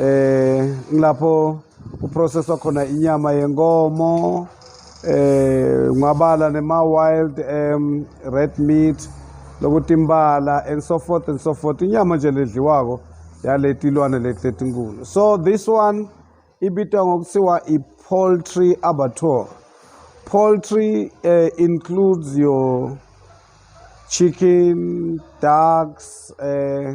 eh ngilapho uprocesswa khona inyama yenkomo eh ngwabala nema wild um red meat lokuthi imbala and so forth and so forth inyama nje ledliwako yaletilwane letletinkulu so this one ibitwa ngokuthiwa i-poultry abattoir poultry uh, includes your chicken ducks uh,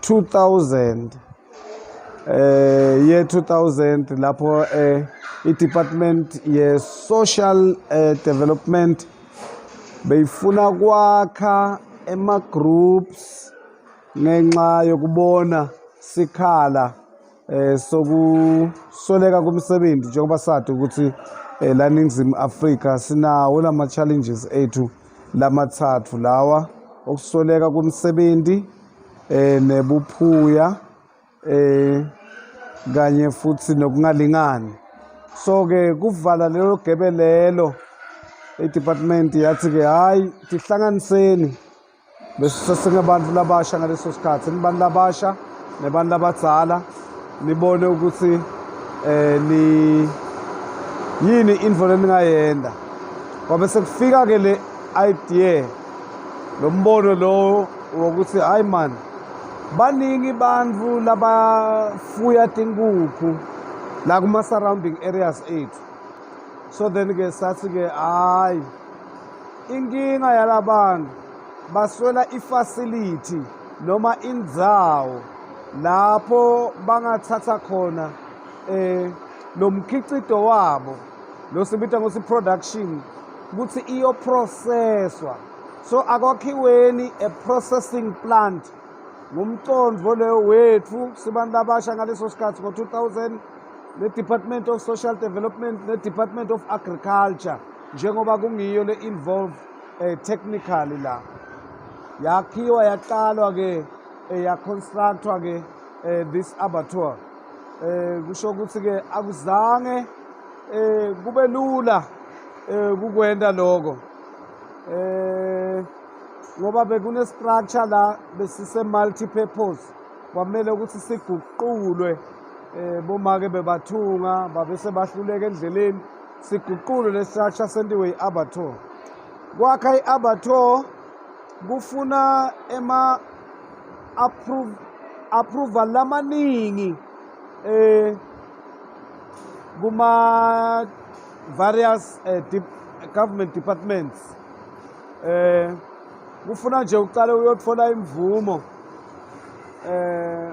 2000 eh ye 2000 lapho eh i-department ye-social eh, development beyifuna kwakha ema-groups ngenxa yokubona sikhala eh sokusoleka kumsebenzi njengoba sathi ukuthi eh, la ningizimu Afrika sinawo lama challenges ethu lamathathu lawa okusoleka kumsebenzi eh nebuphuya eh kanye futhi nokungalingani so ke kuvala lelo gebe lelo i-department yathi ke hayi tihlanganiseni bese sesingabantu labasha ngaleso sikhathi nibantu labasha nebantu labadzala nibone ukuthi eh ni yini into leningayenda kwabe sekufika ke le idea lo mbono lowo wokuthi hayi man baningi bantu labafuya tinkukhu la kuma-surrounding areas ethu so then-ke sathi-ke hhayi Inkinga yalabantu baswela ifacility noma indzawo lapho bangathatha khona eh lo mkhiqido wabo lo sibita ngokuthi production ukuthi iyoprocesswa so akwakhiweni a processing plant ngumcondvo leyo wethu sibantu abasha ngaleso sikhathi ngo-2000 ne-department of social development ne-department of agriculture njengoba kungiyo le involve eh, technically la yakhiwa yaqalwa ke eh, ya constructwa ke eh, this abattoir eh kusho ukuthi ke akuzange eh kube lula eh kukwenda lokho eh ngoba bekune structure la besise multi purpose kwamele ukuthi siguqulwe eh bomake bebathunga babese bahluleka endleleni siguqule le structure sentiwe i-abattoir kwakha i-abattoir kufuna ema approve approval lamaningi eh kuma various eh, dip, government departments eh kufuna nje uqale uyothola imvumo eh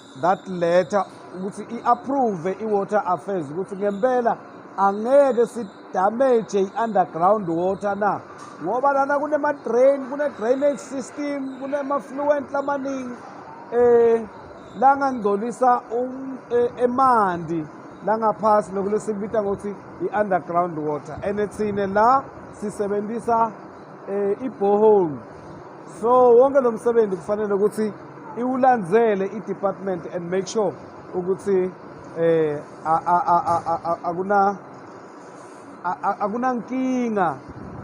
that letter ukuthi i-approve i-water affairs ukuthi ngempela angeke sidamage i-underground water na ngoba lana kunema-drain kune-drainage system kunema-fluent lamaningi um langangcolisa um, e, emanti langaphasi lokhu lesikubiza ngokuthi i-underground water and thine la sisebenzisa um eh, ibhohole so wonke lo msebenzi kufanele ukuthi iwulandzele i-department and make sure ukuthi eh akuna akunankinga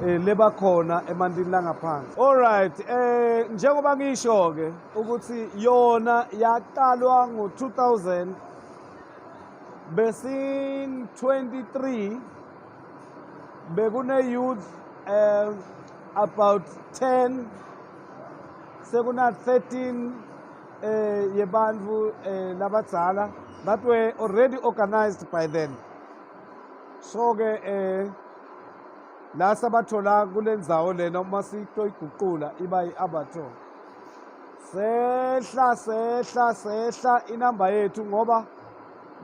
eh, lebakhona emantini langaphansi all right eh njengoba ngisho ke ukuthi yona yaqalwa ngo-2000 besin 23 bekune-youth um about 10 sekuna 13 eh yebantfu eh labadzala that were already organized by then so ke eh la sabathola kulendzawo lena uma sitoyiguqula iba yi-abator sehla sehla sehla inamba yethu ngoba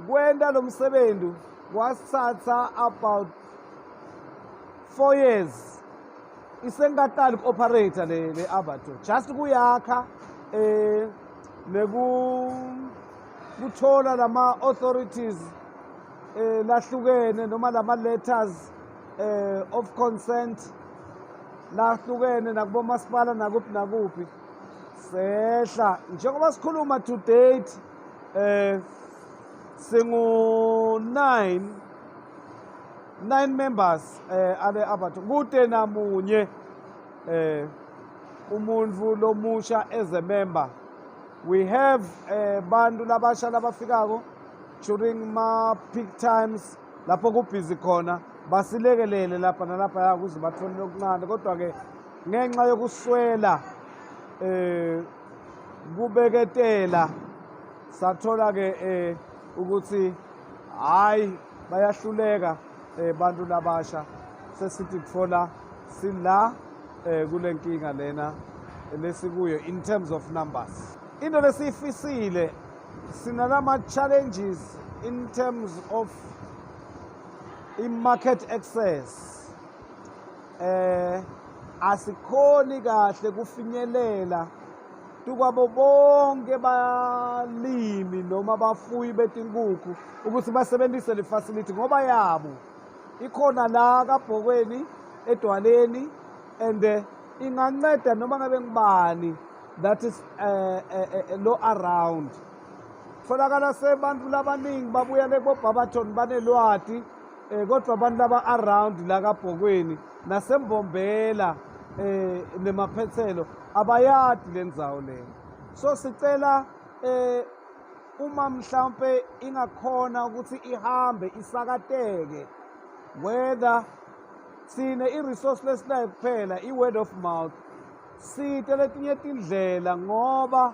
kwenta lo msebenzi kwasithatha about four years isenkatali ku-operator le le avatar just kuyakha eh neku kuthola lama authorities eh lahlukene noma lama letters eh of consent lahlukene nakubo masipala nakuphi nakuphi sehla njengoba sikhuluma to date eh singu 9 nine members eh ale abantu kude namunye eh umuntu lomusha as a member we have eh bantu labasha labafikako during ma peak times lapho kubhizi khona basilekelele lapha nalapha ya kuze bathole okuncane kodwa ke ngenxa yokuswela eh kubeketela sathola ke eh ukuthi hayi bayahluleka um bantu labasha sesithi kuthola sila um kule nkinga lena lesikuyo in terms of numbers into lesiyifisile sinalama-challenges in terms of i-market access eh asikhoni kahle kufinyelela kwabo bonke balimi noma bafuyi betinkukhu ukuthi basebenzise le facility ngoba yabo ikhona la kabhokweni edwaleni and eh, inganceda noma ngabe ngibani that is uh, eh, uh, eh, uh, lo around tholakala sebantu labaningi babuyele kobhabathon banelwati um kodwa abantu laba around la kabhokweni nasembombela eh nemaphethelo abayadi lendzawo lena so sicela eh uma mhlambe ingakhona ukuthi ihambe isakateke whether sine i-resource lesinayo kuphela i-word of mouth site letinye tindlela ngoba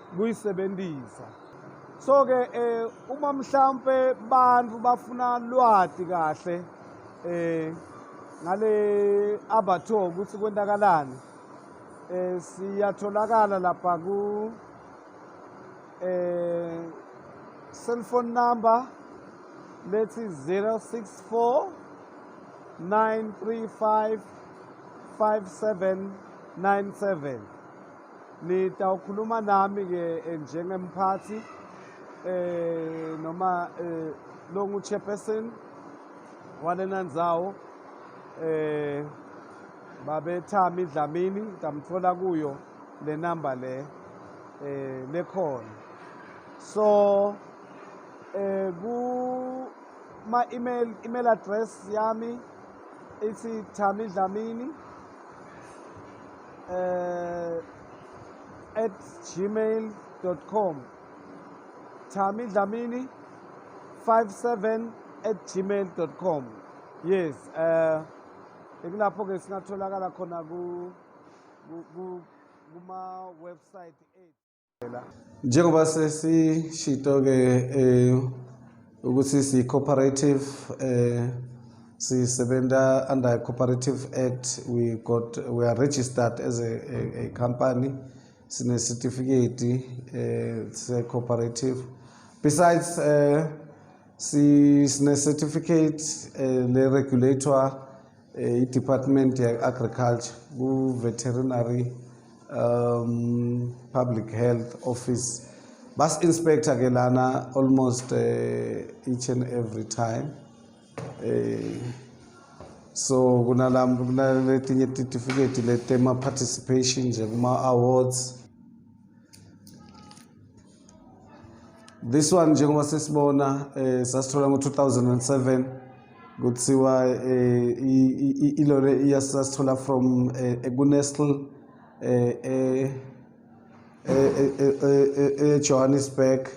kuyisebenzisa so ke eh uma mhlambe abantu bafuna lwati kahle eh ngale abatho ukuthi kwenzakalani eh siyatholakala lapha ku eh cell phone number lethi 064 935 5797 Nitawukhuluma nami-ke eh, njengemphathi eh noma eh lo ngu-chairperson walena ndzawo eh babethami Dlamini ngamthola kuyo le number le eh lekhona so eh ku ma email email address yami ithi Thami Dlamini eh at gmail.com Thami Dlamini 57 at gmail.com yes eh ikulapho ke singatholakala khona ku kuma website ethu Njengoba sesishito-ke um ukuthi siyi-cooperative um sisebenza under a cooperative act we got we are registered as a, a, a company sinesitifiketi um se-cooperative besides um sinecertificate um le-regulator eh, i-department ye-agriculture ku-veterinary um, public health office basi-inspector ke lana almost uh, each and every time uh, so kunaletinye titifiketi letema-participation nje kuma-awards this one njengoba sesibona eh sasithola ngo2007 kuthiwa eh ilore iyasasithola from eh, ekuNestle eh, eh, eh eJohannesburg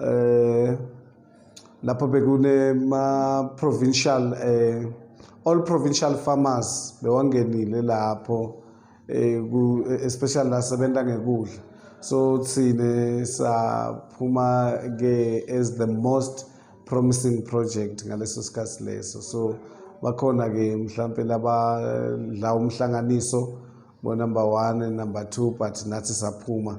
eh lapho bekune ma provincial eh all provincial farmers bewangenile lapho um especially la sebenza ngekudla so thina saphuma-ke as the most promising project ngaleso sikhathi leso so bakhona-ke mhlawumpe labadla umhlanganiso bonumber one number two but nathi saphuma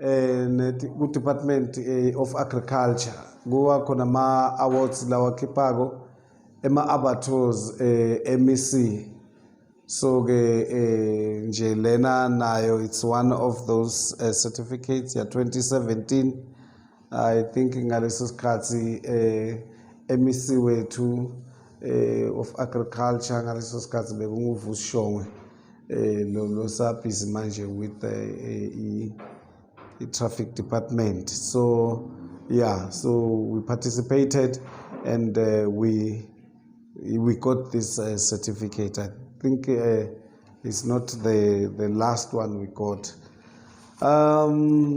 eh ku-department eh, of agriculture kuwa khona ama-awards lawa khiphako ema-abattoirs eh, emec so ke eh, nje lena nayo it's one of those eh, certificates ya 2017 I think ngaleso sikhathi eh MEC wethu eh of agriculture ngaleso sikhathi bekunguvusi Shongwe eh lo lo sabhizi manje with eh, i traffic department so yeah so we participated and uh, we we got this uh, certificate i think uh, it's not the the last one we got um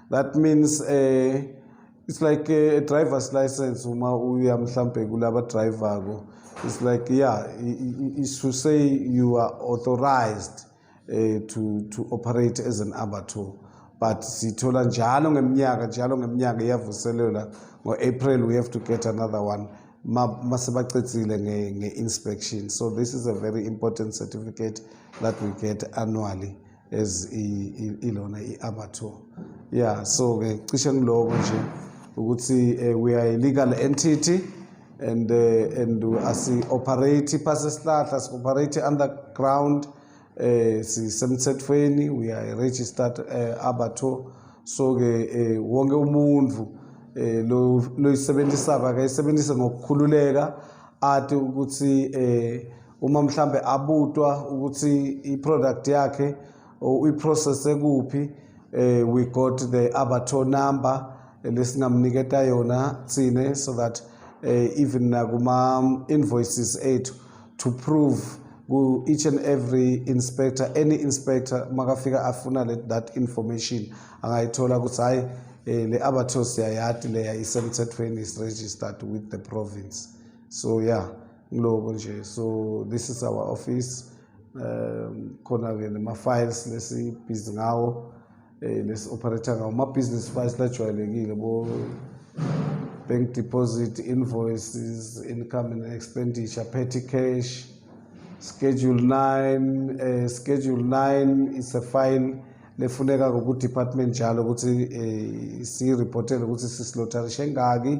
that means eh it's like a, a driver's license uma uya mhlambe kulaba driver ko it's like yeah it's to say you are authorized eh to to operate as an abattoir but sithola njalo ngeminyaka njalo ngeminyaka iyavuselelwa ngo-april we have to get another one masebacedzile nge-inspection so this is a very important certificate that we get annually as ilona i-amateur yeah so ke cishe ngiloko nje ukuthi eh, we are a legal entity and uh, and asi operate phasi esihlahla si operate underground eh sisemthethweni we are a registered eh, abatho so ke eh, wonke umuntu eh, lo loyisebenzisa akayisebenzise ngokukhululeka athi ukuthi eh uma mhlambe abutwa ukuthi i-product yakhe i-process ekuphi eh, we got the abator number lesingamniketa yona thine so that eh, even nakuma-invoices ethu to prove ku each and every inspector any inspector makafika afuna le, that information angayithola ukuthi hayi eh, le abathos yayati leya isemthethweni is registered with the province so yeah kuloko nje so this is our office um khona-ke nema-files lesibhizi ngawo um lesi-operator ngawo ama-business files lajwayelekile bo bank deposit invoices income and expenditure petty cash schedule 9 um eh, schedule 9 is a file lefuneka ngokudepartment njalo ukuthi um eh, siyireportele ukuthi sisilotarishe ngaki